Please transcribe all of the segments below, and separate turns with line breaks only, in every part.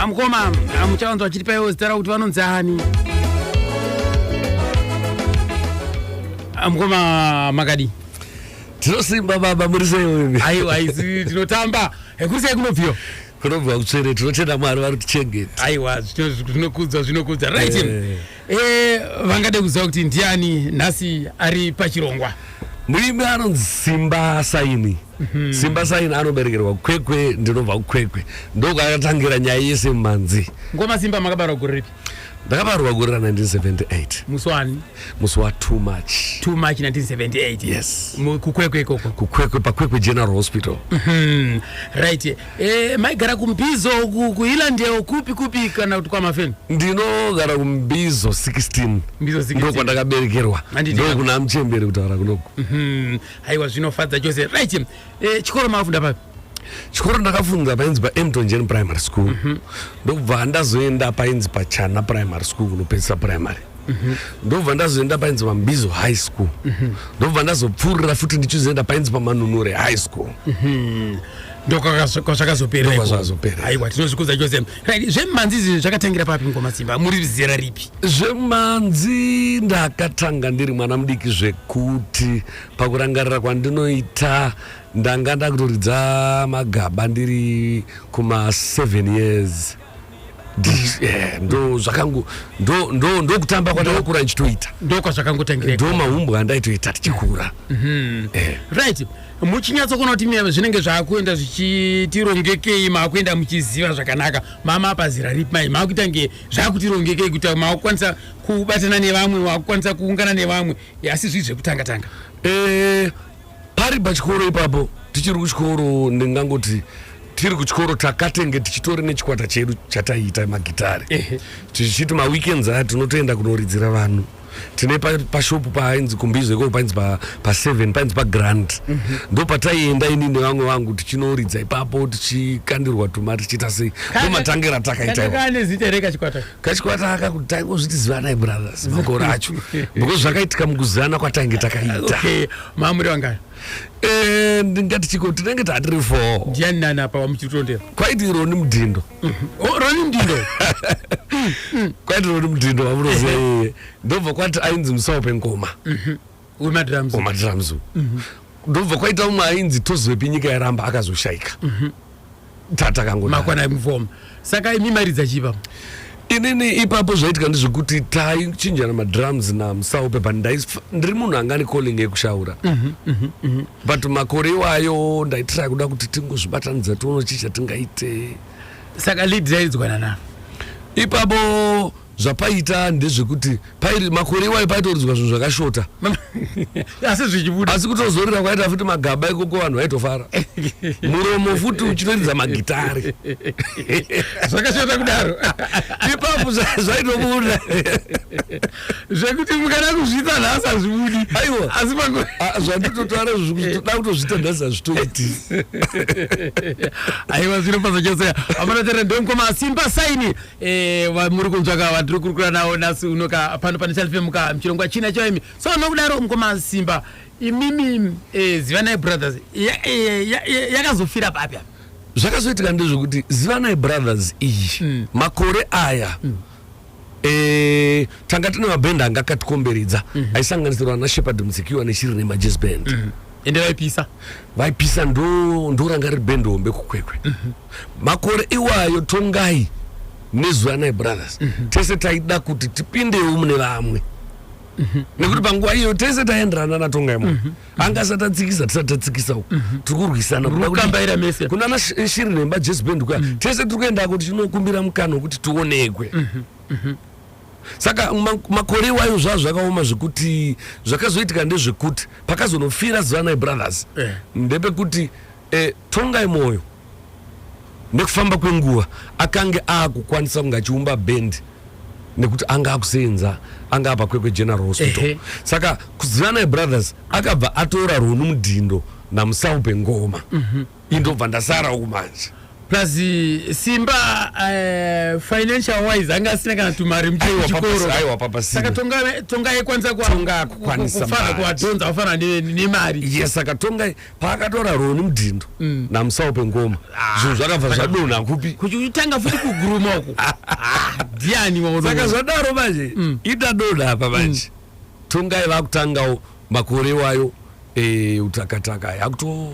amukoma amuchawanzwa chiti paiwo zita rakuti vanonzi ani amukoma makadi tinosimba baba muri sei aiwa haisi tinotamba hekuri sei kunobviwa kunobva kutsvere tinotenda mwari vari kutichengeta aiwa zvinokudzwa zvinokudzwa right eh. eh, vangade kuziva kuti ndiani nhasi ari pachirongwa muimbi anonzi simba saini Mhm. simba saini anoberekerwa kwekwe ndinobva kukwekwe ndokwakatangira nyaya yese mumhanzi ngoma simba makabarwa gore ripi ndakabarwa gore ra1978 musi wani musi wa too much too much 1978 yes kukwekwe ikoko kukwekwe pakwekwe general hospital mhm. right eh, maigara kumbizo kuhilandeo kupi kupi kana kuti kwamafeni ndinogara kumbizo 16 ndokwa ndakaberekerwa ndokuna mchembere kutaura kunoku mhm. haiwa zvinofadza chose right e, chikoro makafunda papi chikoro ndakafunda painzi paemtongen primary school mm -hmm. ndokubva ndazoenda painzi pachana primary school kunopedzisa primary mhm. ndobva ndazoenda painzi pambizo high school mhm. ndobva ndazopfuurira futi ndichizoenda painzi pamanunure high school mhm. ndokwazvakazopereaiwa tinozvikudza chose Right, zvemhanzi izvi zvakatangira papi ngoma simba muri zera ripi zvemhanzi ndakatanga ndiri mwana mudiki zvekuti pakurangarira kwandinoita ndanga ndakutoridza magaba ndiri kuma 7 years Ndi- eh, ndo zvakangu ndo- ndo- ndokutamba kwandakakura ndichitoita ndokwazvakangotangira ndo mahumbwa andaitoita tichikura right muchinyatsokuona kuti miyame zvinenge zvaakuenda zvichitirongekei maakuenda muchiziva zvakanaka mama apa zira ripi mai maakuita nge zvakutirongekeyi kuti maakukwanisa kubatana nevamwe maakukwanisa kuungana nevamwe asi zvii zvekutanga tanga eh, pari pachikoro ipapo tichiri kuchikoro ndingangoti tiri kuchikoro takatenge tichitori nechikwata chedu chataiita magitare tichiti maweekends aya tinotoenda kunoridzira vanhu tine pashopu pa painzi kumbizo ikoko painzi pa, pa seven painzi pagrand mm -hmm. ndo pataienda ini nevamwe vangu tichinoridza ipapo tichikandirwa tuma tichiita sei ndo matange ratakaitakachikwata aka kuti taingozviti zivanai brothers makore acho because zvakaitika mukuzivana kwatainge takaita okay. mamuri vangani eh, ndingati chiko tinenge tatiri fo ndiani nani apa wamuchitondera kwaiti ironi mudhindo Oh, roni mdindo kwati roni mdindo wamunoziva yeye ndobva kwati ainzi musawo pengoma mhm. wemadrums wemadrums mhm. ndobva kwaita umwe ainzi tozivepi nyika yaramba akazoshaika mhm. tatakangomakwana mufoma saka imi maridza chipa inini ipapo zvaitika ndezvekuti taichinjana madrums namusawo pepa ndiri munhu angani calling yekushaura but makore iwayo ndaitira kuda kuti tingozvibatanidza tione chii chatingaite saka lead yairidzwana na ipapo zvapaita ndezvekuti pairi makore iwayo paitoridzwa zvinhu zvakashota asi zvichibuda asi kutozorira kwaita futi magaba ikoko vanhu vaitofara muromo futi uchitoridza magitari zvakashota kudaro ipapo zvaitobuda zvekuti mukada kuzviita nhasi hazvibudi aiwa asi pako ah, zvanditotaura zvekuti toda kutozviita nhasi hazvitoiti aiwa zvinofadza chose amana tera ndomukoma simba saini eh, vamuri kunzvaka vatiri kurukura nawo nhasi unoka pano pane chalifemuka muchirongwa china choimi so nokudaro mukoma simba imimi eh, zivanai brothers eh, yakazofira ya, ya, ya, papi apa zvakazoitika ndezvekuti zivanai brothers iyi mm. makore aya mm. Eh, tanga tine mabhenda anga akatikomberedza mhm. aisanganisirwa ana shepard muzikiwa neshiri nemajez band mhm. ende vaipisa vaipisa ndoranga riri bend hombe kukwekwe mhm. makore iwayo tongai nezuva nai brothers tese taida kuti tipindewo mune vamwe nekuti panguva iyo tese taienderana natongai mwe anga asati atsikisa tisati tatsikisa uku mhm. tiri kurwisana kukambaira mese kuna ana shiri nemba jesu band kuya mhm. tese tiri kuendako tichinokumbira mukana wekuti tionekwe mhm, saka makore iwayo zvazvo zvakaoma zvekuti zvakazoitika ndezvekuti pakazonofira zivana ibrothers eh. ndepekuti E, Tongai Moyo nekufamba kwenguva akange aakukwanisa kunge achiumba bhendi nekuti anga akuseenza anga apa kwekwe general hospital Ehe. saka kuzivanai brothers akabva atora runu mudhindo namusau pengoma mm-hmm. indobva ndasara uku manje plus eh, simba uh, financial wise anga asina kana tumari muchikorosaka tonga ekwanisa kufana kuadhonza kufana nemari yes saka tonga paakatora roni mudhindo mm. namusawo pengoma ah, zvinhu zvakabva zvadonha kupi kuchitanga futi kuguruma uku ah, ndiani saka zvadaro manje mm. ita donha apa manje mm. tongai vakutangawo makore iwayo eh, utakataka yakuto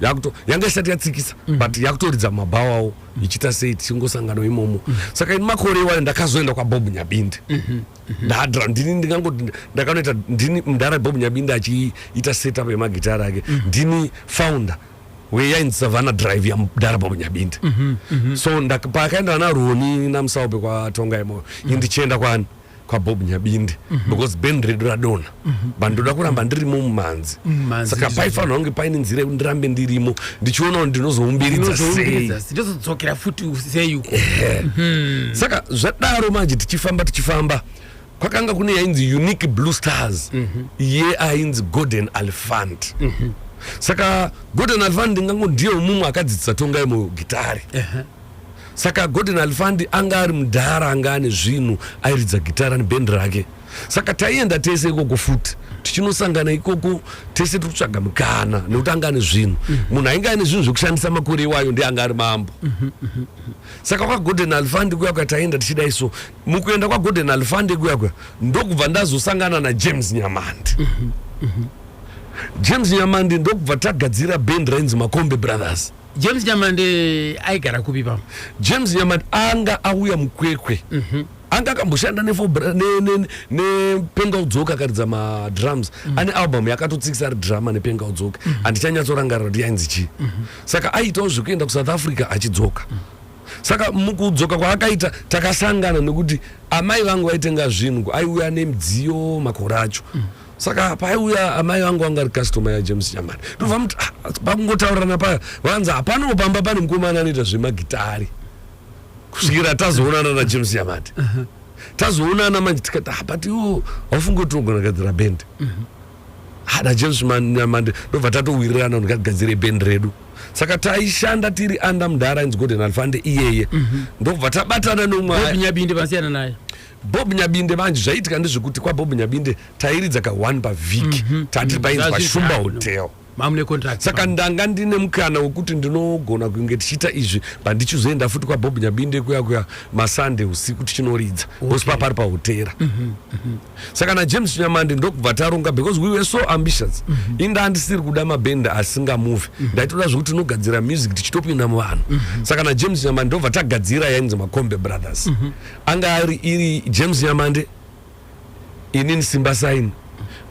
yakuto yanga isati yatsikisa mm. but yakutoridza mabhawawo ichiita sei tichingosangano imomo saka ini makore iwayo ndakazoenda kwabob nyabindi mm-hmm. ndadra ndini ndingangoti ndakanoita ndini mdara bob nyabinda achiita setup yemagitari ake mhm. ndini founder weyainzi savana drive yamdara bob nyabinda mhm, mhm. so paakaenda vana roni namusaupe kwatonga imoyo indichienda kwani kwabob nyabinde because band redu radona but ndoda kuramba ndirimo mumhanzi Mumhanzi saka ndizvo. paifanirwa kunge paine nzira yekuti ndirambe ndirimo ndichiona kuti ndinozoumbiridza sei Ndinozoumbiridza sei? Ndozodzokera futi sei uko. saka zvadaro manje tichifamba tichifamba kwakanga kune yainzi unique blue stars iye ainzi golden alfant saka golden alfant ndingango ndiye umumwe akadzidzisa tonga yemo gitare saka golden alfant anga ari mudhara anga ane zvinhu airidza gitara nebhendi rake saka taienda tese ikoko futi tichinosangana ikoko tese tiri kutsvaga mukana nekuti anga ane zvinhu mhm. munhu ainge aine zvinhu zvekushandisa makore iwayo ndi anga ari mambo mhm, mhm, saka kwagolden alfande kuya kuya taienda tichidai so mukuenda kwagolden alfande kuya kuya ndokubva ndazosangana najames nyamandi james nyamandi ndokubva tagadzira band rainzi makombe brothers james nyamandi aigara kupi pamo james nyamandi anga auya mukwekwe mm -hmm. anga akamboshanda nepenga udzoka akaridza madrums mm. ane album yakatotsikisa ari drama nepenga udzoka mm. andichanyatsorangarira kuti yainzi chii mm -hmm. saka aitawo zvekuenda kusouth africa achidzoka mm. saka mukudzoka kwaakaita takasangana nekuti amai vangu vaitenga zvinhu aiuya nemidziyo makore acho mm. saka paiuya amai vangu vanga ri customer yajames chamani ndobva muti ah, pakungotaurana paya vanzi hapanowo pamba pane mukomana anoita zvemagitari kusvikira tazoonana najames yamati tazoonana manje tikati ah, but iwo haufungi kuti unogona gadzira bend mhm. ah, najames nyamande ndobva tatowirirana kuti ngatigadzire bend redu saka taishanda tiri anda mudhara inzi golden alfande iyeye mhm. ndobva tabatana nomwanyabinde vasiyana naye bob nyabinde manje zvaiitika ndezvekuti kwabob nyabinde tairidza ka one pavhiki mhm. tatiri painzi pashumba hotel mamune contract saka ndanga ndine mukana wekuti ndinogona kunge tichiita izvi pandichizoenda futi kwabob nyabinde kuya kuya masande usiku tichinoridza okay. osipa pari pahotera mm -hmm. mm -hmm. saka najames chinyamande ndokubva taronga because we were so ambitious mm -hmm. inda andisiri kuda mabhenda asingamuvi mm -hmm. ndaitoda zvekuti tinogadzira music tichitopinda muvanhu mm -hmm. saka najames chinyamande ndobva tagadzira yainzi macombe brothers mm -hmm. anga ari iri james nyamande inini simba sign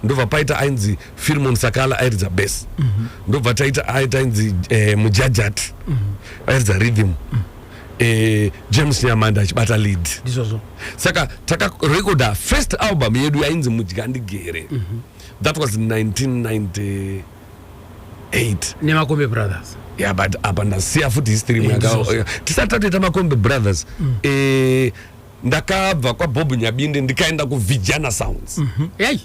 ndobva paita ainzi firmon sakala airidza bes mm -hmm. ndobva taita aita ainzi eh, mujajat mm -hmm. airidza rhythm mm -hmm. Eh, james nyamanda achibata lead ndizvozvo saka takarekoda first album yedu yainzi mudya ndigere mm -hmm. that was 1998 nemakombe brothers yeah, but apa ndasiya futi history eh, tisati tatoita makombe brothers mm. eh, ndakabva kwabob nyabinde ndikaenda kuvijana sounds mm -hmm. hey.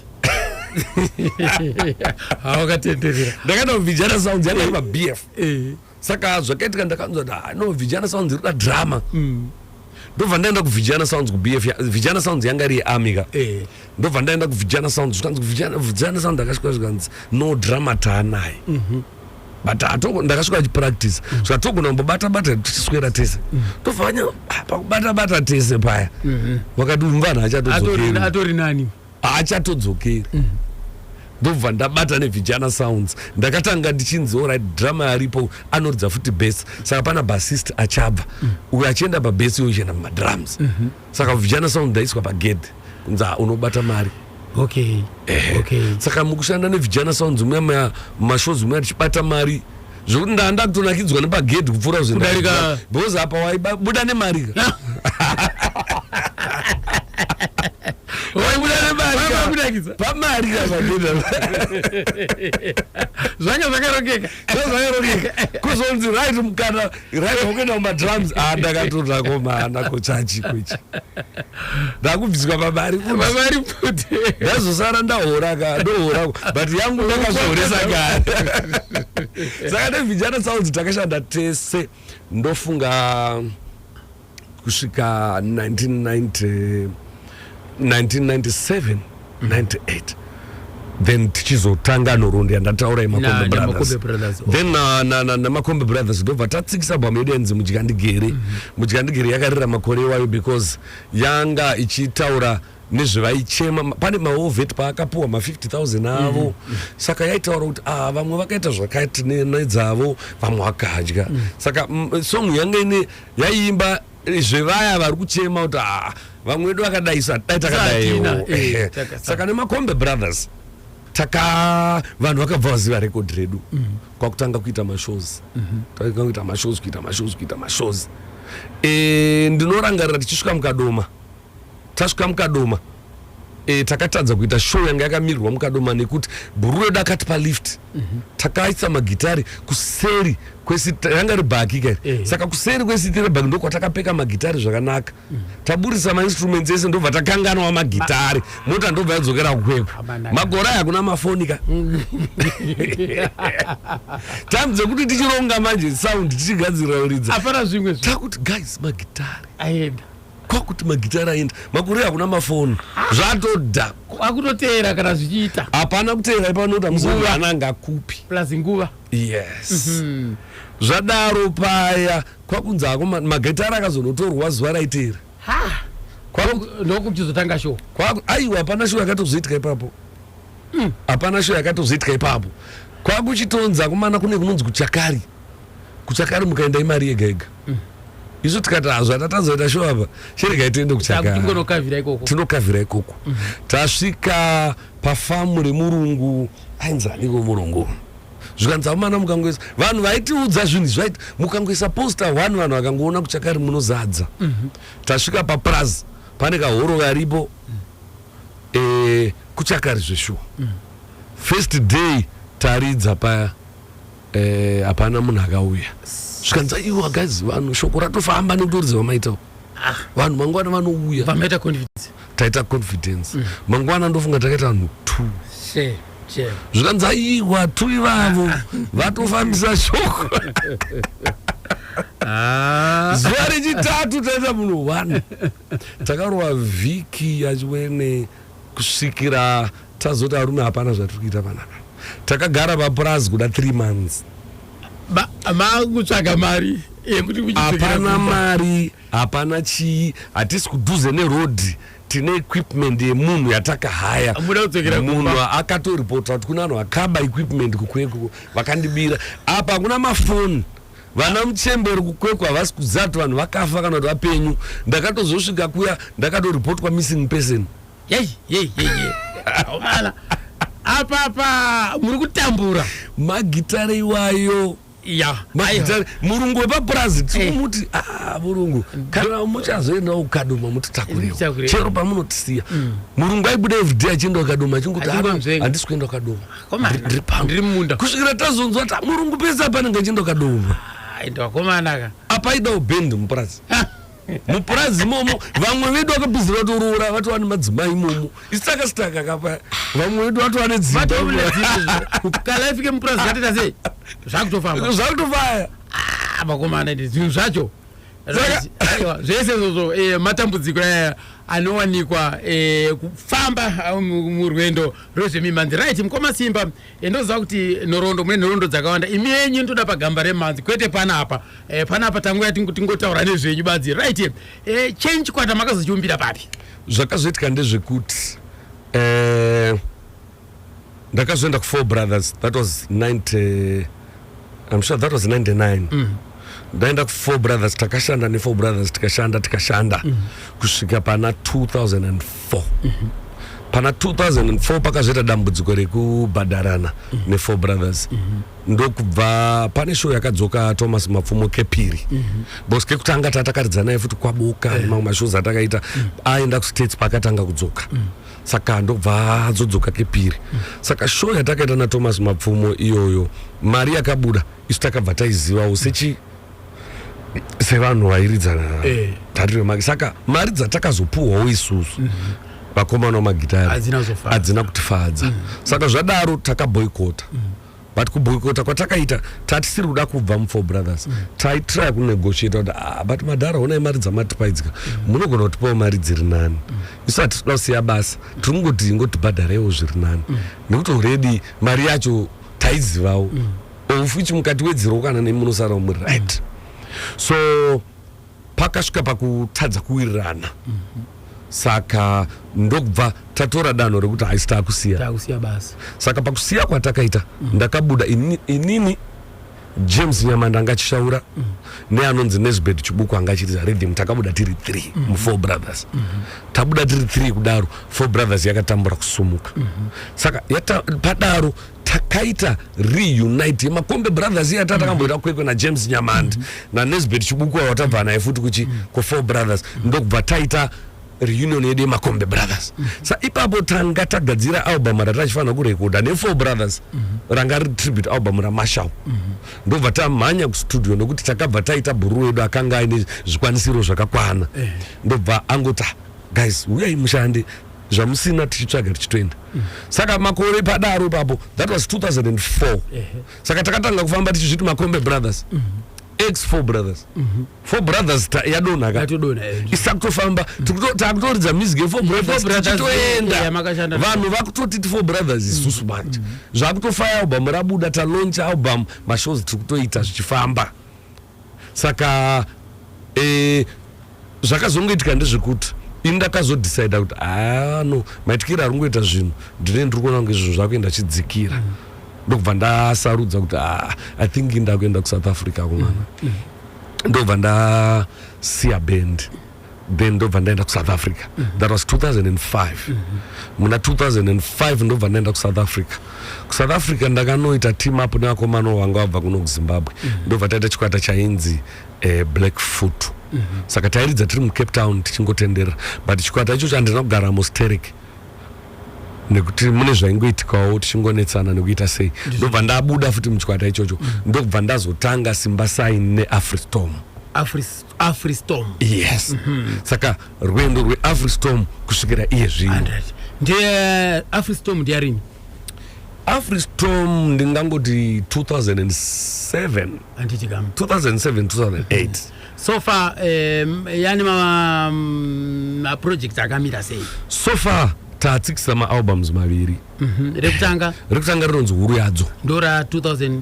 hawakatenderera ndakaenda kuvijana sounds yanga ima bf eh. saka zvakaitika ndakanzwa kuti ah, no vijana sounds irikuda drama mm. ndobva ndaenda kuvijana sounds kubf vijana sounds yanga iri yearmy ka eh. ndobva ndaenda kuvijana sounds zvikanzi kuvijana sounds akasvika zvikanzi no drama taanaye mm -hmm. but atoko ndakasvika achipractice mm. zvatogona kumbobata bata tichiswera tese mm. tofanya ah, pakubata bata tese paya mm-hmm. vakati uyu mvana achatodzokeri atori nani achatodzokeri mm. ndobva ndabata nevijana sounds ndakatanga ndichinzi orit drama aripo anoridza futi bes saka pana basist achabva mm. uyo achienda pabes uyo uchienda mumadrums mm-hmm. saka vijana sound ndaiswa pagedhe kunzi ah, unobata mari okay. Eh. Okay. saka mukushanda nevijana sounds muya muya mashows muya tichibata mari zvokuti ndaa ndakutonakidzwa nepagedhi kupfuura zvindarika because apa waibuda nemari ka pamari zvanga zvakarongeka kuzonzi right mukana raiva kuenda kumadrums a ah, ndakatotsvako maana kochachi kwechi ndakubviswa pamari pamari kuti ndazosara ndahora ka ndohora but yangu ndakazvihoresa kare saka nevijana sounds takashanda tese ndofunga kusvika 1990, 1997 98 then tichizotanga nhoroondo yandataura yemakombe Na- namakombe brothers brothers, okay. then na- na- na- namakombe brothers ndobva tatsikisa bhamu yedu yanzi mudyandigere mudyandigere yakarira makore iwayo because yanga ichitaura nezvevaichema Ma- pane maovet paakapuwa ma50000 avo saka yaitaura kuti ah, vamwe vakaita zvakati ne- nedzavo vamwe vakadya saka mm, song yanga ine yaiimba zvevaya vari kuchema kuti haa vamwe vedu vakadaisa dai takadaiwo eh, saka nemakombe brothers taka vanhu vakabva vaziva record redu mm -hmm. kwakutanga kuita mashows mm -hmm. takanga kuita mashows kuita mashows kuita mashows e, ndinorangarira tichisvika mukadoma Tasvika mukadoma e, takatadza kuita show yanga yakamirirwa mukadoma nekuti bhuru redu akati palift mm -hmm. takaisa magitari kuseri kwesiti ranga ribhaki ka e. saka kuseri kwesiti rebhaki ndokwatakapeka magitari zvakanaka mm -hmm. taburisa mainstruments ese ndobva takanganwa magitari Ma mota ndobva yadzokera kukwepo magora aya kuna mafoni ka mhm. time dzekuti tichironga manje sound tichigadzirira ridza takuti guys magitari aenda kwakuti magitara aenda makore hakuna mafoni zvatoda kwakutoteera kana zvichiita hapana kuteera ipanoda muzoananga kupi plus nguva yes mm -hmm. zvadaro paya kwakunzi hako magitara akazonotorwa zuva raiteera ndokuchizotanga sho aiwa hapana sho yakatozoitika ipapo mm. hapana mm. sho yakatozoitika ipapo kwakuchitonza kumana kune kunonzi kuchakari kuchakari mukaenda imari yega yega mm. isu tikati hazvo hata tazoita sho apa chiregai tiende kuchakatinokavhira ikoko mm. tasvika pafamu remurungu ainzi aniko murungu zvikanzi amana mukangoisa vanhu vaitiudza zvinhu izvi vaiti mukangoisa posta one vanhu vakangoona kuchakari munozadza mhm. tasvika papurazi pane kahoro karipo eh, kuchakari zveshuwa mm. first day taridza paya Eh, hapana munhu akauya zvikanzi aiwa guys vanhu shoko ratofamba nekuti uridzi vamaitawo ah. vanhu mangwana vanouya vamaita confidence taita confidence mm. mangwana ndofunga takaita vanhu two zvikanzi aiwa two ivavo ah. vatofambisa shoko ah. zuva rechitatu taita munhu one takarova vhiki yachiwene kusvikira Tazoti arume hapana zvatiri kuita vana ava. Takagara papurazi kuda 3 months. Ma, makutsvaga mari yekuti kuchipfekera Hapana kumba. mari, hapana chii, hatisi kudhuze neroad. Tine equipment yemunhu yatakahaya. Muda kudzokera kumba. Munhu akatoripota kuti kuna vanhu vakaba equipment kukwekwo vakandibira. Apa hakuna mafoni. Vana muchembere kukwekwa havasi kuziva kuti vanhu vakafa kana kuti vapenyu. Ndakatozosvika kuya ndakatoripotwa missing person. yei yei yei yei omala apa apa muri kutambura magitare iwayo ya aiwa. magitare murungu wepapurazi tikumuti ah murungu kana muchazoendawo kukadoma mutitakuriwo Mutitakuriwo. chero pamunotisiya murungu aibuda everyday achienda kukadoma achingoti Achingomzvenga. "Hapana, handisi kuenda kukadoma Komana, Ndiri- ndiri pano." ndiri mumunda. kusvikira tazonzwa kuti "Ah, murungu pese apanenge achienda kukadoma Ah, ende wakomana ka apa aidawo band mupurazi mupurazi imomo vamwe vedu vakapizira vatoroora vatova nemadzimai imomo isitaka sitaka kapa vamwe vedu vatova nedzimbaukala ifike mupurazi zvatita sei zvakutofamba zvakutofaya ah, vakomana iti zvinhu zvacho zvese izvozvo eh, matambudziko aya anowanikwa eh, kufamba ah, murwendo rwezvemimhanzi right mukoma simba ndoziva kuti nhoroondo mune nhoroondo dzakawanda imi yenyu ndoda pagamba remanzi kwete panapa e, panapa tanguya tingotaura nezvenyu badzi right e, eh, chenyi chikwata makazochiumbira papi zvakazoitika ndezvekuti e, ndakazoenda kufour brothers that was 90 I'm sure that was 99 mm. ndaenda kufour brothers takashanda nefour brothers tikashanda tikashanda mm. kusvika pana 2004 mm -hmm. pana 2004 pakazoita dambudziko rekubhadharana mm -hmm. nefour brothers mm -hmm. ndokubva pane show yakadzoka thomas mapfumo kepiri mm -hmm. because kekutanga tatakaridzanaye futi kwaboka eh. nemamwe yeah. mashows atakaita mm -hmm. aenda kustates paakatanga kudzoka mm -hmm. saka ndobva azodzoka kepiri saka show yatakaita nathomas mapfumo iyoyo mari yakabuda isu takabva taizivawo sechi sevanhu vairidza Eh. dhari remagi saka mari dzatakazopuhwawo isusu vakomana vamagitari Hadzina kuzofadza. hadzina kutifadza saka zvadaro takaboikota but kuboikota kwatakaita tatisiri kuda kubva mufour brothers mm. taitry kunegotiata kuti ah, but madhara honai mari dzamatipaidzika mm. munogona kutipawo mari dziri nani mm. isu hatisi kuda kusiya basa tiri kungoti ingotibhadharewo zviri nani mm. nekuti already mari yacho taizivawo mm. ofuchi mukati wedzirwo kana nemunosara muri right mm. so pakasvika pakutadza kuwirirana mm -hmm. saka ndokubva tatora danho rekuti haisi takusiya saka pakusiya kwatakaita mm -hmm. ndakabuda inini, inini james nyamanda anga achishaura mm -hmm. neanonzi nesbed chibuku anga achiriza rhythm takabuda tiri three mm -hmm. mufour brothers mm -hmm. tabuda tiri three kudaro four brothers yakatambura kusumuka mm -hmm. saka yata, padaro takaita reunite yemakombe brothers iya tatakamboita mm-hmm. kwekwe najames nyamandi mm -hmm. nanesbet chibuku avo tabva naye futi kuchi mm -hmm. kufour brothers mm -hmm. ndokubva taita reunion yedu yemakombe brothers mm -hmm. sa ipapo tanga tagadzira album ratatifanira kurekoda nefour brothers mm -hmm. ranga ri tribute album ramashal mm -hmm. ndobva tamhanya kustudio nekuti takabva taita bhuru wedu akanga aine zvikwanisiro zvakakwana mm -hmm. ndobva angoti guys uyai mushande zvamusina tichitsvaga tichitoenda mm. saka makore padaro ipapo that was 2004 saka takatanga kufamba tichizviti makombe brothers mm -hmm ex four brothers mm -hmm. four brothers yadonha ka isakutofamba takutoridza music yefour brothers tichitoenda vanhu vakutotiti four brothers isusu manje mhm. zvakutofaya album rabuda taloncha album mashows tiri kutoita zvichifamba saka eh, zvakazongoitika ndezvekuti ini ndakazodecida kuti haa no maitikiro ari kungoita zvinhu ndine ndiri kuona kunge zvinhu zvakuenda achidzikira mm. ndokubva ndasarudza kuti haa i think ndakuenda kusouth africa kumwana mm. mm. ndokubva ndasiya bendi then ndobva ndaenda kusouth africa mm -hmm. that was 2005 mm -hmm. muna 2005 ndobva ndaenda kusouth africa kusouth africa ndakanoita team up nevakomano vanga vabva kuno kuzimbabwe mm -hmm. ndobva taita chikwata chainzi eh, black foot mm -hmm. saka tairidza tiri mucape town tichingotenderera but chikwata ichocho handina kugara musterek nekuti mune zvaingoitikawo tichingonetsana nekuita sei ndobva ndabuda futi muchikwata ichocho mm -hmm. ndokubva ndazotanga simba sign neafristom afristom afristom yes saka rwendo rweafristom kusvikira iye zvino 100 ndiye afristom ndiyarini afristom ndingangoti 2007 handiti kam 2007 2008 so far um, yani ma- mm, maproject akamira sei so far tatsikisa maalbums maviri Mhm. rekutanga rekutanga rinonzi huru yadzo ndora 2000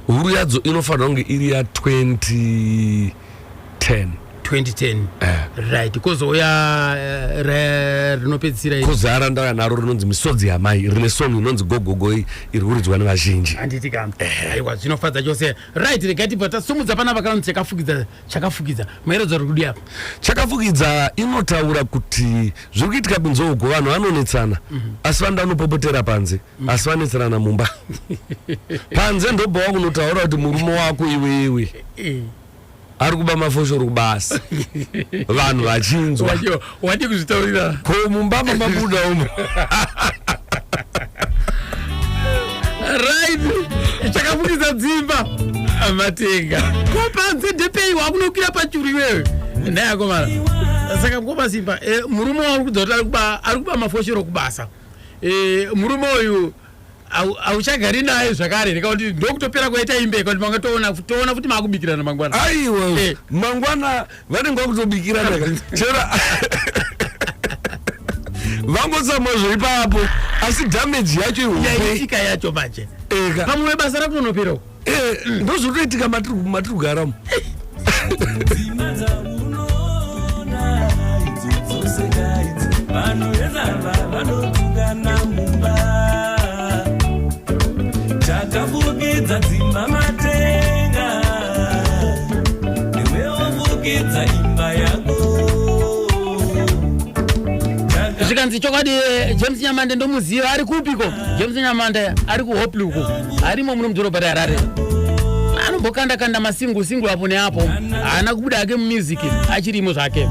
huru yadzo inofanira kunge iri ya 2010 2010 eh. right kozouya uh, eh, rinopedzisira kozara ndauya naro rinonzi misodzi yamai rine song inonzi gogogo iri kuridzwa nevazhinji handiti ka eh. aiwa zvinofadza chose right regai tibva tasumudza pana vakanonzi chakafukidza chakafukidza maeredzo ari kudi apa chakafukidza inotaura kuti zviri kuitika kunzouko vanhu vanonetsana mm -hmm. asi vanoda unopopotera panze asi vanetserana mumba panze ndobva wakunotaura kuti murume wako iwewe eh. ari kuba mafoshoro kubasa vanhu vachinzwa wadi kuzvitaurira ko mumba mamabuda umo right chakafukidza dzimba amatenga ko panze ndepei wakunokwira pachuru iwewe ndayakomana saka mkoma simba eh, murume wauri kudza kuti ari kuba mafoshoro kubasa Eh, murume uyu hauchagari naye zvakare here kakuti ndokutopera kwaita imbe kakuti manga toona toona futi maakubikirana mangwana aiwa eh. mangwana vanenge vakutobikirana chera vangotsamwa zveipapo asi dhameji yacho ihombe yaitika yacho manje eh, pamwe basa rakunonopera uko eh, ndozvotoitika matiri kugara umu takafukidza dzimba matenga iwe wafukidza imba yako zvikanzi chokwadi eh, james nyamande ndomuziva ari kupiko james nyamande ari kuhopluko arimo muno mudhorobha reharare anombokanda kanda masingu singu apo neapo haana kubuda hake mumiziki achirimo zvake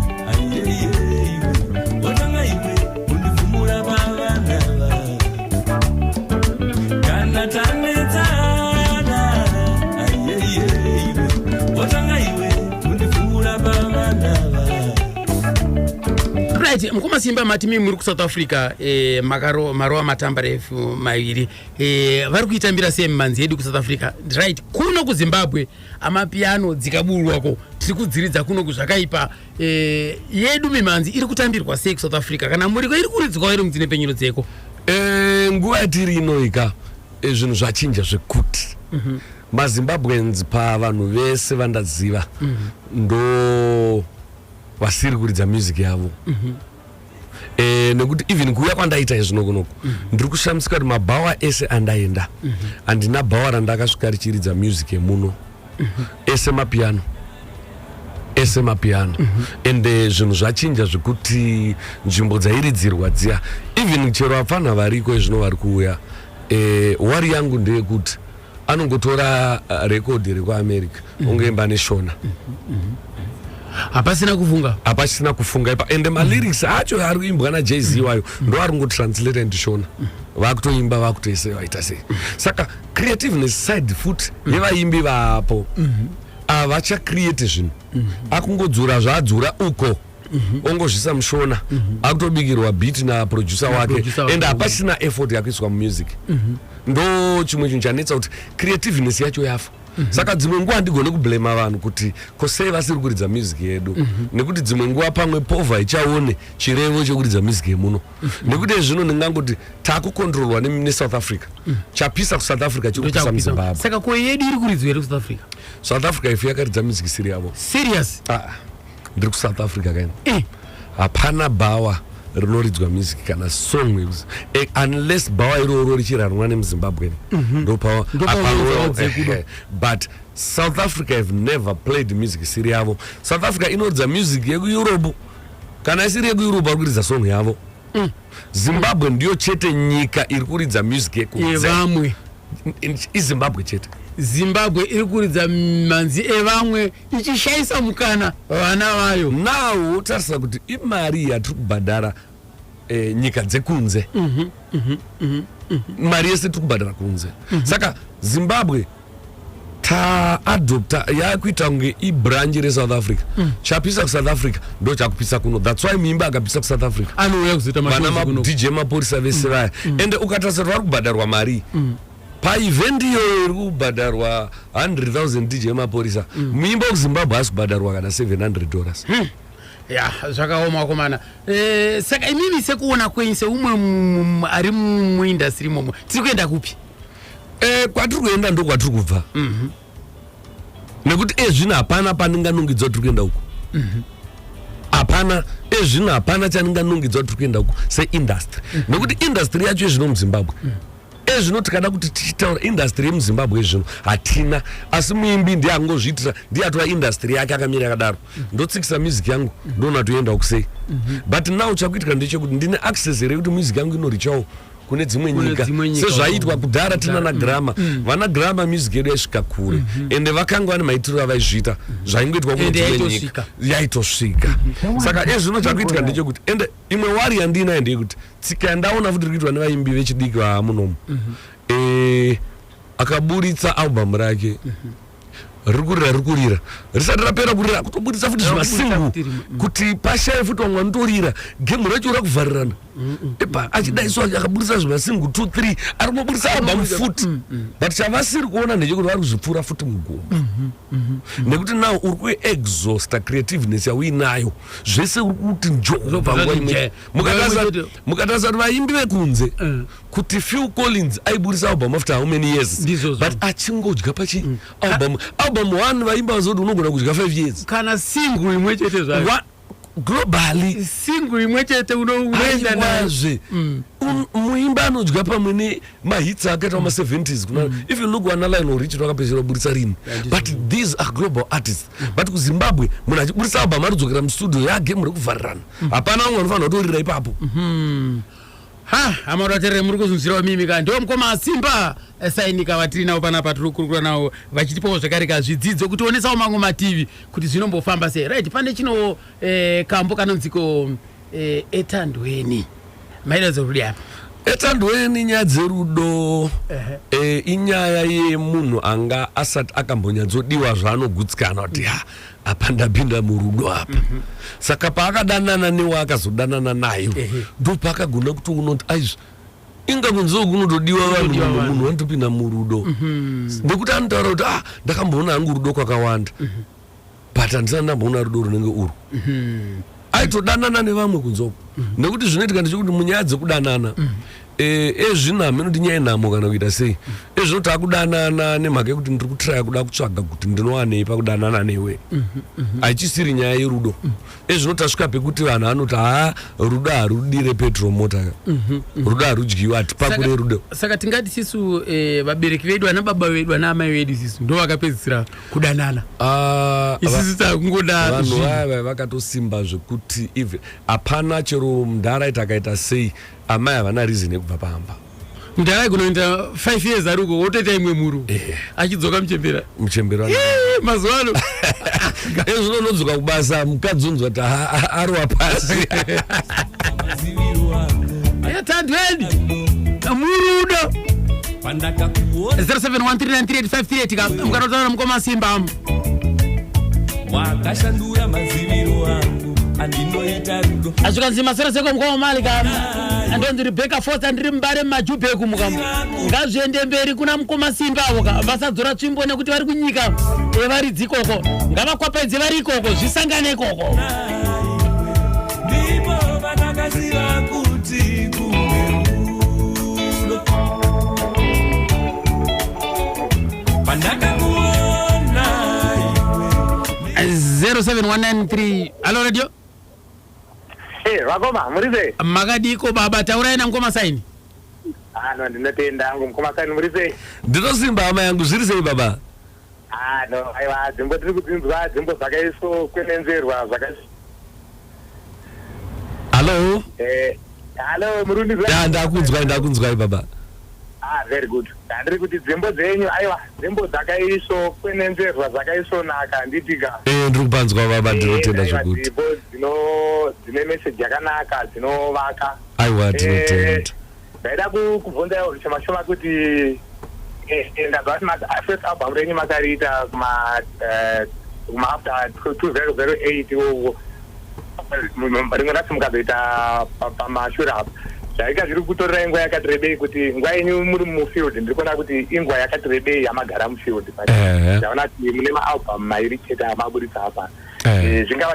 right mukoma simba mati mi muri kusouth africa eh, makaro marowa matambarefu maviri Eh, vari kuitambira sei mimanzi yedu kusouth africa right kuno kuzimbabwe amapiano dzikaburwako tiri kudziridza kuno kuzvakaipa eh, yedu mimanzi iri kutambirwa sei kusouth africa kana muriko iri kuridzwawo iri mudzine penyuro dzeko eh, nguva yatiri inoika eh, zvinhu zvachinja zvekuti mm -hmm. mazimbabweans pavanhu vese vandaziva mm -hmm. ndo vasiri kuridza music yavo mm -hmm. Eh, nekuti even kuuya kwandaita izvino kunoku mm -hmm. ndiri kushamisika kuti mabhawa ese andaenda mm -hmm. andina bhawa randakasvika richiridza music yemuno mm -hmm. ese mapiano ese mapiano mm -hmm. and eh, zvinhu uh, zvachinja zvekuti nzvimbo dzairidzirwa dziya even chero apfana variko izvino vari kuuya eh, wari yangu ndeyekuti anongotora uh, rekodhi rekuamerica mm. ongoimba neshona mm -hmm. Mm -hmm hapasina kufunga hapasina kufunga ipa ende malyrics mm. acho ari kuimbwa najay z iwayo mm. ndo ari kungotranslate ndishona mm. vakutoimba vakutoise vaita sei saka creativeness side foot yevaimbi vaapo mm-hmm. avachacreate zvinhu mm-hmm. akungodzura zvaadzura uko mhm. ongozvisa mushona mhm. akutobikirwa beat naproducer wake and hapasina effort yakuiswa mumusic mhm. ndo chimwe chinhu chanetsa kuti creativeness yacho yafa saka dzimwe nguva handigone kublema vanhu kuti ko sei vasiri kuridza music yedu nekuti dzimwe nguva pamwe povha ichaone chirevo chekuridza music yemuno nekuti ezvino ndingangoti takukontrolwa nesouth africa chapisa kusouth africa chiri kupisa muzimbabwe saka ko yedu iri kuridzwa here kusouth africa south africa ifu yakaridza music isiri yavo serious ah. ndiri kusouth africa kaini eh, hapana bhawa rinoridzwa music kana song eh, unless bhawa iroro richiranwa nemuzimbabwe mhm. ndopawa but south africa have never played music isiri yavo south africa inoridza music yekueurope kana isiri yekueurope vari kuridza song yavo mm. zimbabwe ndiyo chete nyika iri kuridza music yekuvamwe izimbabwe chete zimbabwe iri kuridza manzi evamwe ichishaisa mukana vana vayo now tarisa kuti imari yatiri kubhadhara eh, nyika dzekunze mm -hmm, mm -hmm, mm -hmm. mari yese tiri kubhadhara kunze mm -hmm. saka zimbabwe taadopta yakuita kunge ibranch resouth africa mm. chapisa kusouth africa ndo chakupisa kuno thats why muimba akapisa kusouth africa anouya kuzoita vana madj mapurisa vese mm. vaya mm. ende ukatasira vari kubhadharwa mari mm. Pa event iyoyo iri kubhadharwa 100,000 DJ Mapurisa. Mm. Muimba ku Zimbabwe asi kubhadharwa kana 700 dollars. Hmm. Ya, zvakaoma wakomana. Eh, saka imimi sekuona kwenyu seumwe ari mu industry imomo. Tiri kuenda kupi? Eh, kwatiri kuenda ndo kwatiri kubva. Mhm. Mm Nekuti ezvino eh, hapana paninga nungidzo tiri kuenda uko. Mhm. Mm hapana ezvino eh, hapana chaninga nungidzo tiri kuenda uko se industry. Mm -hmm. Nekuti industry yacho ezvino mu Zimbabwe. Mm -hmm. ezvino tikada kuti tichitaura industry yemuzimbabwe zvino hatina asi muimbi ndiye angozviitira ndiye atora industry yake akamira yakadaro ndotsikisa music yangu ndoona toenda kusei mhm. but now chakuitika ndechekuti ndine access here yekuti music yangu inorichawo kune dzimwe nyika sezvaiitwa kudhara tina na grama mm. mm. vana grama music yedu yaisvika kure mm-hmm. ende vakanga vane maitiro avaizviita mm-hmm. zvaingoitwa kune dzimwe nyika yaitosvika mm-hmm. saka ezvino chakuitika ndechekuti ende imwe wari yandiinayo ndeyekuti tsika yandaona futi iri kuitwa nevaimbi vechidiki vamunomu mm -hmm. e, akaburitsa albhamu rake mm -hmm riri kurira riri kurira risati rapera kurira kutoburitsa futi zvimasingu mm. kuti pashaye futi vamwe vanotorira gemu racho rakuvharirana epa achidaiswa akaburitsa zvimasingu two three ari kumaburitsa albamu futi mm, mm. but chavasiri kuona ndechekuti vari kuzvipfuura futi mugumo mm-hmm. Mhm. nekuti now uri kuexhausta creativeness yauinayo zvese uri kuti njomukatarisa kuti vaimbi vekunze eh. kuti phil collins aiburisa album after how many years but achingodya pachi mm. album album one vaimba vazoti unogona kudya five years kana single imwe chete zvayo globally singu imwe chete unoenda nazve mm. muimba anodya pamwe ne mahits ake ta ma 70s kuna mm. if you look wana line orich rakapesera kuburitsa rini but these are global artists mm. but ku zimbabwe munhu achiburitsa album anodzokera mustudio yake muri kuvharirana mm. hapana vamwe vanofanira kutorira ipapo mm-hmm. ha hama vaterere muri kuzunzirawo mimi ka ndiwo mukoma asimba sainika vatiri navo panapa tiri kukurukura navo vachitipawo zvakare ka zvidzidzo kuti onesawo mamwe mativi kuti zvinombofamba sei right pane chino eh, kambo kanonziko eh, etandweni maelezo rudi apa etandweni nyaya dzerudo e, inyaya yemunhu anga asati akambonyatsodiwa zvaanogutsikana kuti ha apa ndapinda murudo apa mm -hmm. saka paakadanana newe akazodanana nayo ndopaakagona kuti unoti aizvi inga kunziwo kunotodiwa vanhu mumwe munhu vanotopinda murudo mhm. nekuti anotaura kuti ah ndakamboona hangu rudo kwakawanda mhm. but handisana ndamboona rudo runenge urwu mhm. aitodanana nevamwe kunze uko nekuti zvinoitika ndechekuti munyaya dzekudanana eh, ezvinhamo inoti nyaya yenhamo kana kuita sei ezvino takudanana nemhaka yekuti ndiri kutraya kuda kutsvaga kuti ndinowanei pakudanana newe hachisiri nyaya yerudo ezvino tasvika pekuti vanhu vanoti haa rudo harudire petro mota ka rudo harudyiwa hatipakure rudo saka tingati sisu eh, vabereki vedu ana baba vedu ana amai vedu sisu ndo vakapedzisira kudanana ah, isisi takungoda vanhu vaya vakatosimba zvekuti even hapana chero mdhara aita akaita sei amai havana reason yekubva pamba mdhara aikunoenda five years ari uko wotoita imwe mhuru eh. achidzoka muchembera muchembera mazuva ano ezvino unodzoka kubasa mukadzi unzwa kuti arowa pasi yatandweni mhuru udo 0713938538 mukatotaura nomukoma simba wakashandura maziviro angu andinoita rudo azvikanzi masera seko mukoma mali ka andonzi rebeka fos andiri mubare mumajubheku mukamo ngazviende mberi kuna mukoma simba avo ka vasadzora tsvimbo nekuti vari kunyika evaridzi ikoko ngavakwapaidze vari ikoko zvisangane ikoko 0719 Hello radio Hey, eh, vakoma murize makadiko baba taurai nangu masaini ano ah, ndinotenda angu mukoma saini murize ndinosimba hama yangu zviri sei baba Haa no aiwa dzimbo tiri kudzinzwa dzimbo dzakaiso kwenenzerwa zvakaiso hallo eh, hallo murundi ya ndakunzwai ndakunzwai baba ah very good ndandiri kuti dzimbo dzenyu aiwa dzimbo dzakaiso kwenenzerwa dzakaisonaka handitika ee ndiri kupanzwa baba ndinotenda zvokuti dzimbo dzino dzine message yakanaka dzinovaka aiwa Eh, ndinotenda Ndaida kubvunza iwo zvishoma shoma kuti eh, eh, ndabva kuti ah, first album renyu makariita kuma eh, kuma after 2008 iwowo rimwe racho mukazoita pamashure apa zvaika zviri kutorera inguva yakati rebei kuti nguva yenyu muri mufield ndiri kuona kuti inguva yakati rebei yamagara mufield ndaona kuti mune maalbum mairi chete amaburitsa apa eh. Eh, zvingava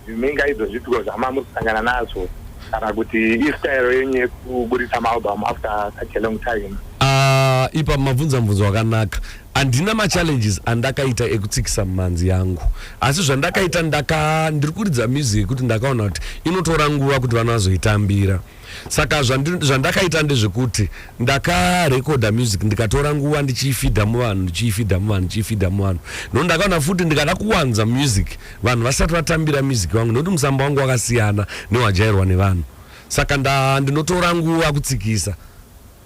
zvimingaidzo zvipiko zvama muri kusangana nazvo kana kuti istyle yenyu yekuburitsa maalbum after such a long time ah, ipa mabvunza mubvunzo wakanaka handina machallenges andakaita ekutsikisa mumhanzi yangu asi zvandakaita ndaka ndiri kuridza music yekuti ndakaona kuti inotora nguva kuti vana vazoitambira so saka zvandakaita ndezvekuti ndakarekodha music ndikatora nguva ndichiifidha muvanhu ndichiifidha muvanhu ndichiifidha muvanhu nokuti ndakaona futi ndikada kuwanza music vanhu vasati vatambira music wangu nokuti musamba wangu wakasiyana newajairwa nevanhu saka ndinotora nguva kutsikisa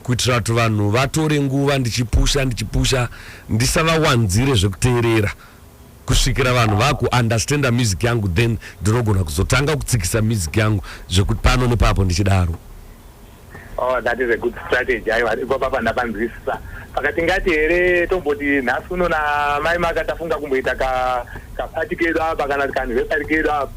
kuitira kuti vanhu vatore nguva ndichipusha ndichipusha ndisavawanzire zvekuteerera kusvikira vanhu vaku understanda music yangu then ndinogona kuzotanga kutsikisa music yangu zvekuti pano nepapo ndichidaro oh that is a good strategy aiwa ipo papa ndapanzwisisa pakati ngati here tomboti nhasi uno namai maka tafunga kumboita ka kapati kedu apa kana kanhvesari kedu apa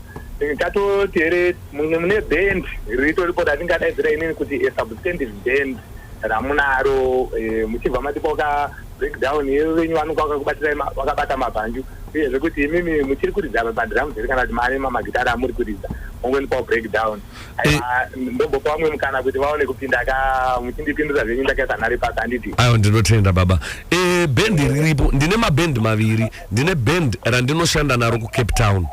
tatoti here mune band ritoripo ratingadaidzira inini kuti a substantive band ramunaro eh, muchibva matipoka breakdown yevo venyu vanonga vakakubatsirai vakabata mabhanju uyezve kuti imimi muchiri kuridza madhiramu here kana kuti mari mamagitari amuri kuridza ongondipawo breakdown eh. ndombopa vamwe mukana kuti vaone kupinda ka muchindipindura zvenyu ndakaisa nhari pasi handiti aiwa ndinotenda baba eh, bhendi riripo ndine mabhendi maviri ndine bhendi randinoshanda naro kucape town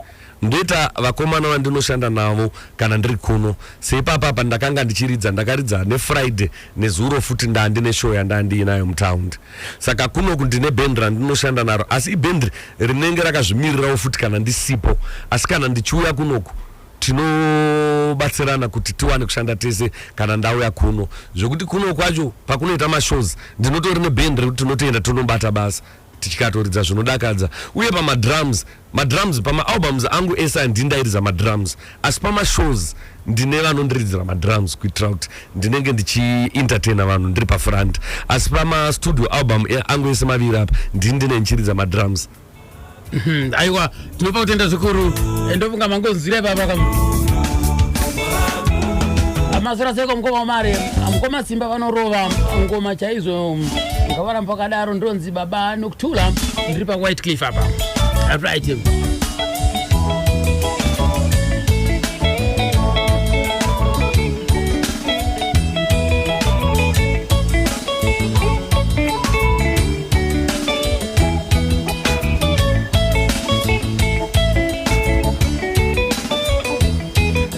Ndoita vakomana vandinoshanda navo kana ndiri kuno. Seipapa apa ndakanga ndichiridza, ndakaridza neFriday nezuro futi ndaandine show yandanga ndiinayo mutound. Saka kunoku ndine band randinoshanda naro asi iband rinenge rakazvimirirawo futi kana ndisipo. Asi kana ndichiuya kunoku tinobatsirana kuti tiwane kushanda tese kana ndauya kuno. Zvekuti kuno kwacho pakunoita mashows ndinotori neband rekuti tinotoenda tonobata basa. tichikatoridza zvinodakadza uye pamadrums madrums pamaalbums angu ese handindairidza madrums asi pamashows ndine vanondiridzira madrums kuitira kuti ndinenge ndichientertaina vanhu ndiri pafront asi pamastudio album angu ese maviri apa ndini ndine ndichiridza madrums mhm, aiwa tinopa kutenda zvikuru ndofunga mangonzwira ipapa kam amasora seko mukoma wamari mukoma simba vanorova ngoma chaizvo ngavaramba vakadaro ndonzi baba nokutula ndiri pawhite cliff apa right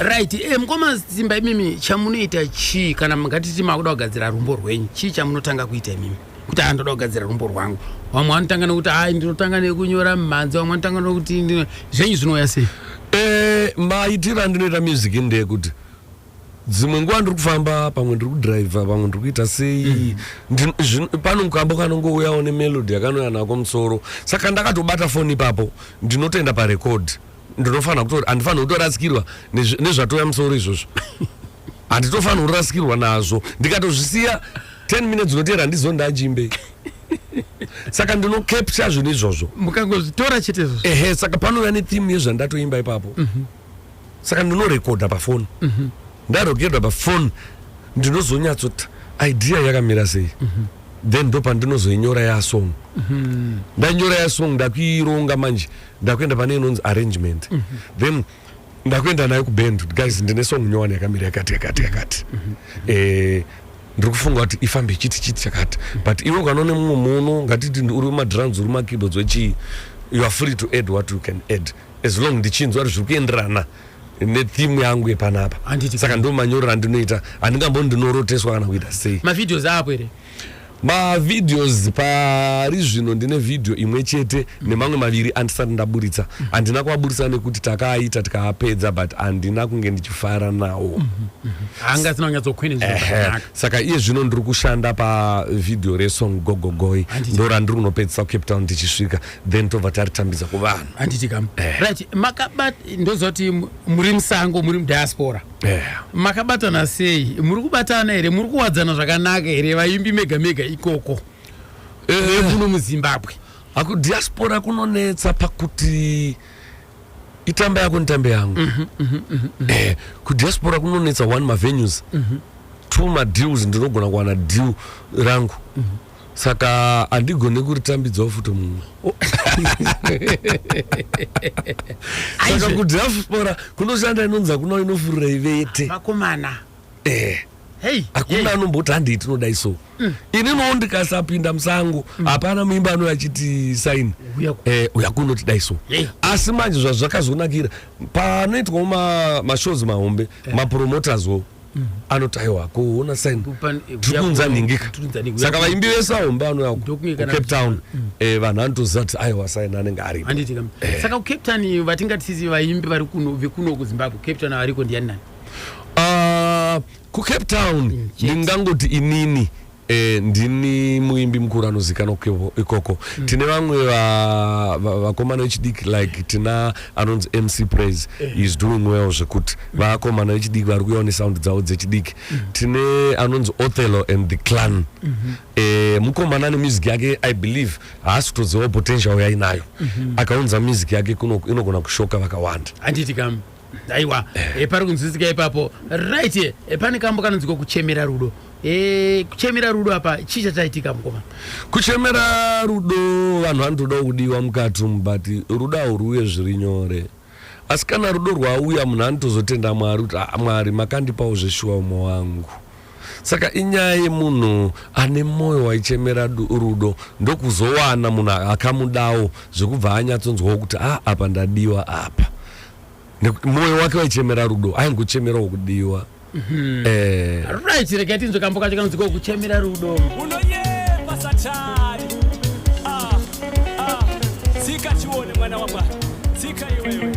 right e mukoma simba imimi chamunoita chii kana mungatiti makuda kugadzira rumbo rwenyu chii chamunotanga kuita imimi kuti aa ndoda kugadzira rumbo rwangu vamwe vanotanga nekuti ai ndinotanga nekunyora mumhanzi vamwe vanotanga nekuti zvenyu zvinouya sei e maitiro andinoita music ndeyekuti dzimwe nguva ndiri kufamba pamwe ndiri kudriver pamwe ndiri kuita sei mm. pano mukambo kanongouyawo nemelody yakanouya nako musoro saka ndakatobata foni ipapo ndinotoenda parecord ndinofanira kutori handifanira kutorasikirwa nezvatouya musoro izvozvo handitofanira kurasikirwa nazvo ndikatozvisiya 10 minutes unoteera ndizo ndachimbe saka ndinocapture zvinhu izvozvo mukangozvitora chete izvozvo ehe saka panouya netheme yezvandatoimba ipapo mm -hmm. saka ndinorekodha pafoni mm -hmm. ndarekodha pafoni ndinozonyatsoti idea yakamira sei mm -hmm. then ndo pandinozoinyora yasong mm -hmm. ndanyora yasong ndakuironga manje ndakuenda pane inonzi arrangement mm -hmm. then ndakuenda nayo kuband guys ndine song nyowani yakamira yakati yakati yakati mm -hmm. eh, ndiri kufunga kuti ifambe chiti chiti chakati but iwe ukanoone mumwe muno ngatiti uri madrums uri makeyboards wechii you are free to add what you can add as long ndichinzwa kuti zviri kuenderana netheme yangu yepanapa Handiti saka ndo manyorero andinoita handingamboni ndinoroteswa kana kuita sei mavideos apo here mavideos pari zvino ndine vhidhiyo imwe chete nemamwe maviri andisati ndaburitsa handina kuaburitsa nekuti takaaita tikaapedza but handina kunge ndichifara nawo hanga asina kunyatsokwenenzviro Ehe. zvakanaka saka iye zvino ndiri kushanda pavhidhiyo resong gogogoi Handiti. ndorandiri kunopedzisa kucape town tichisvika then tobva taritambidza kuvanhu handiti kam eh. right makabat ndoziva kuti muri musango muri mudiaspora eh. makabatana sei muri kubatana here muri kuwadzana zvakanaka here vaimbi mega mega ikoko eh. kuno eh. muzimbabwe akudiaspora kunonetsa pakuti itamba yako nitambe yangu mm -hmm, mm -hmm, mm -hmm. eh, kudiaspora kunonetsa one mavenues mm -hmm. two madeals ndinogona kuwana deal rangu mm -hmm. saka handigone kuritambidzawo futi mumwe saka kudiaspora kunoshanda inonzi hakuna inofurira ivete vakomana eh hakuna anomboti handei tinodai so mm. ini noo ndikasapinda musango mm. hapana muimba anouya achiti saini eh, uya kunoti dai so asi manje zvazvakazonakira panoitwawo mashows mahombe eh. mapromoters wo anoti aiwa kuona saini tiri kunza nhingika saka vaimbi vese ahomba anouya kucape town mm. eh, vanhu anotoziva kuti aiwa saini anenge aripo eh. saka kucape town vatingatisi vaimbi vari kuno vekuno kuzimbabwe cape town variko ndiani nani ah, kucape town mm, ndingangoti inini Eh, ndini muimbi mukuru anozikanwa ikoko mm. tine vamwe vakomana vechidiki like tina anonzi mc praise eh. is doing well zvekuti mm. vakomana vechidiki vari kuyawo nesound dzavo dzechidiki mm. tine anonzi othello and the clan mm -hmm. eh, mukomana ane music yake i believe haasi kutozivawo potential yainayo mm -hmm. akaunza music yake inogona kushoka vakawanda handiti kam aiwa e, pari kunzwisika ipapo right e, pane kambo kanonzika kuchemera rudo e, kuchemera rudo apa chii chachaitika mukoma kuchemera rudo vanhu vanotodawo kudiwa mukati umu but rudo hauruuye zviri nyore asi kana rudo rwauya munhu anotozotenda mwari kuti ah, mwari makandipawo zveshuwa umwe wangu Saka inyaya yemunhu ane moyo waichemera rudo ndokuzowana munhu akamudawo zvekubva anyatsonzwawo kuti a ah, apa ndadiwa apa nekuti moyo wake waichemera rudo aingochemerawo kudiwa mhm. eh. right regai tinzwe kambo kacho kanonzi kokuchemera rudo unoyemba satani ah, ah. tsika chione mwana wamwari tsika iwewe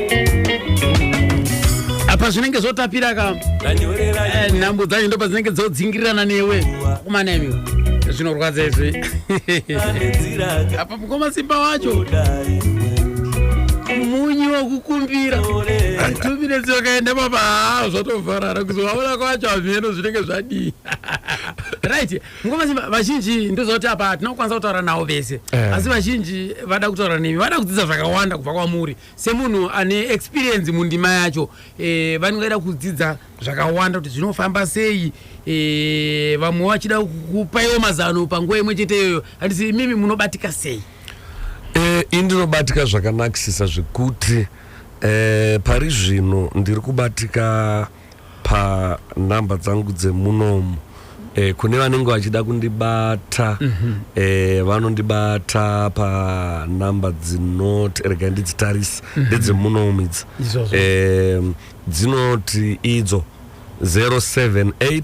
apa zvinenge zvotapira ka eh, nhambo dzacho ndo padzinenge dzodzingirirana newe kumana imi zvinorwadza izvi apa mukoma simba wacho munyu wekukumbira two minutes wakaenda papa haa zvatovharara kuzovaona kwacho hameno zvinenge zvadii right mukoma simba vazhinji ndozvati apa hatina kukwanisa kutaura navo vese eh. asi vazhinji vada kutaura nemi vada kudzidza zvakawanda kubva kwamuri semunhu ane experience mundima yacho e, vangaida kudzidza zvakawanda kuti zvinofamba sei e, vamwe vachida kupaiwo mazano panguva imwe chete iyoyo handisi imimi munobatika sei e, ini ndinobatika zvakanakisisa zvekuti e, pari zvino ndiri kubatika panhamba dzangu dzemunomu eh, kune vanenge vachida kundibata mm -hmm. eh, vanondibata panhamba dzinoti rega ndidzitarisi mhm. ndedzemunomu mm -hmm. idzi eh, dzinoti idzo 078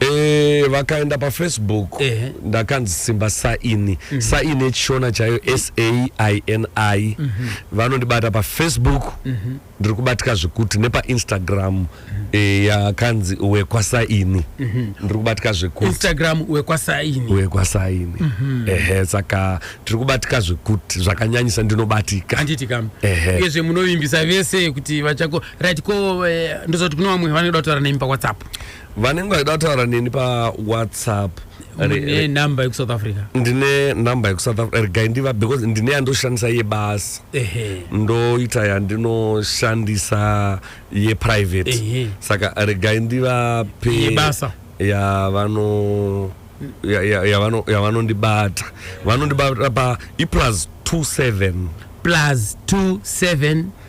Eh, vakaenda pafacebook Ehe. ndakanzi simba saini saini yechishona chaiyo saini vanondibata pafacebook ndiri kubatika zvekuti nepainstagram eh, yakanzi wekwasaini ndiri kubatika zvekuti instagram wekwasaini wekwasaini ehe saka tiri kubatika zvekuti zvakanyanyisa ndinobatika handiti kam Ehe. uyezve munovimbisa vese kuti vachako right ko eh, ndozoti kune vamwe vanoda kutaura nemi pawhatsapp vanenge vachida kutaura neni pawhatsapp ne number yekusouth africa ndine number yekusouth africa regai ndiva because ndine yandoshandisa yebasa ndoita yandinoshandisa yeprivate saka regai ndivape yebasa ya vano yavanondibata vanondibata pa iplus 27 plus 27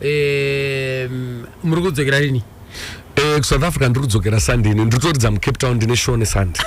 Eh, muri kudzokera rini? Eh, kuSouth Africa ndiri kudzokera Sunday ine nditoridza muCape Town ndine show neSunday.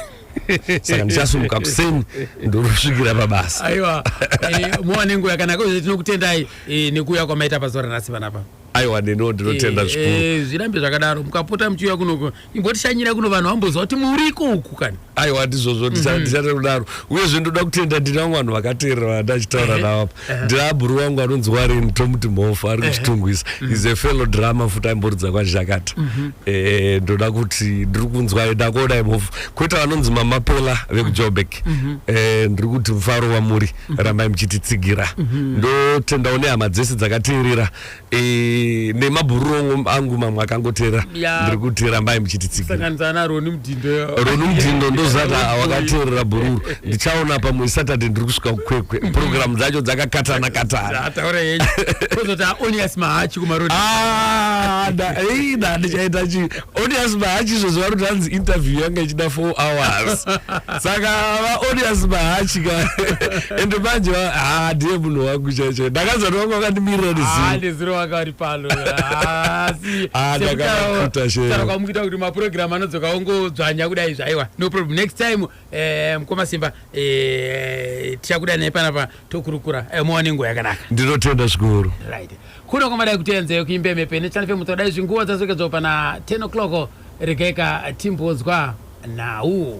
saka ndichasumuka kuseni ndorosvikira pabasa aiwa eh, muwane nguva yakanaka uye tinokutendai eh, nekuuya kwamaita pazuva ranhasi panapa aiwa neno ndinotenda zvikuru zvirambe zvakadaro mukapota muchiuya kunoko ingotishanyira kuno vanhu vambonzwa kuti muriko uku kani aiwa handizvozvo mhm. ndichata kudaro uyezve ndoda kutenda ndiri vangu vanhu vakateerera vandachitaura navo apa ndiri abhuru vangu anonzi warini tomuti mhofu ari kuchitungwisa mhm. is a fellow drama futi aimboridza kwazhakata mhm. eh, ndoda kuti ndiri kunzwa ndakuona imhofu kwete vanonzi mamapela vekujobek eh, ndiri kuti mufaro wamuri rambai muchititsigira ndotendawo nehama dzese dzakateerera Eh, nemabhururu angu mamwe akangoteera ndiri kuteera mbai muchititsigiraroni mudhindo ndozati wakateerera bhururu ndichaona pamwe saturday ndiri kusvika kukwekwe mm-hmm. programu dzacho dzakakatana katana ah, ndichaita chii Odious Mahachi zvoziva kuti hanzi interview yanga ichida four hours saka vaodious Mahachi ka ende manje haa ndiye munhu wangu chaicho ndakanzwa kuti vanga vakandimirira neziro vakari pano ndakaakuita shero kwamukita kuti mapurogiramu anodzoka ongodzvanya kudai zvaiwa no problem next time Eh, mkoma simba eh, tichakuda naye panapa tokurukura eh, mowa nenguva yakanaka ndinotenda zvikuru right kuno kwamadai kutenze kuimbe mepe nechani fe mutodai zvinguva dzasokedzwa pana 10 o'clock regaika timbonzwa nhau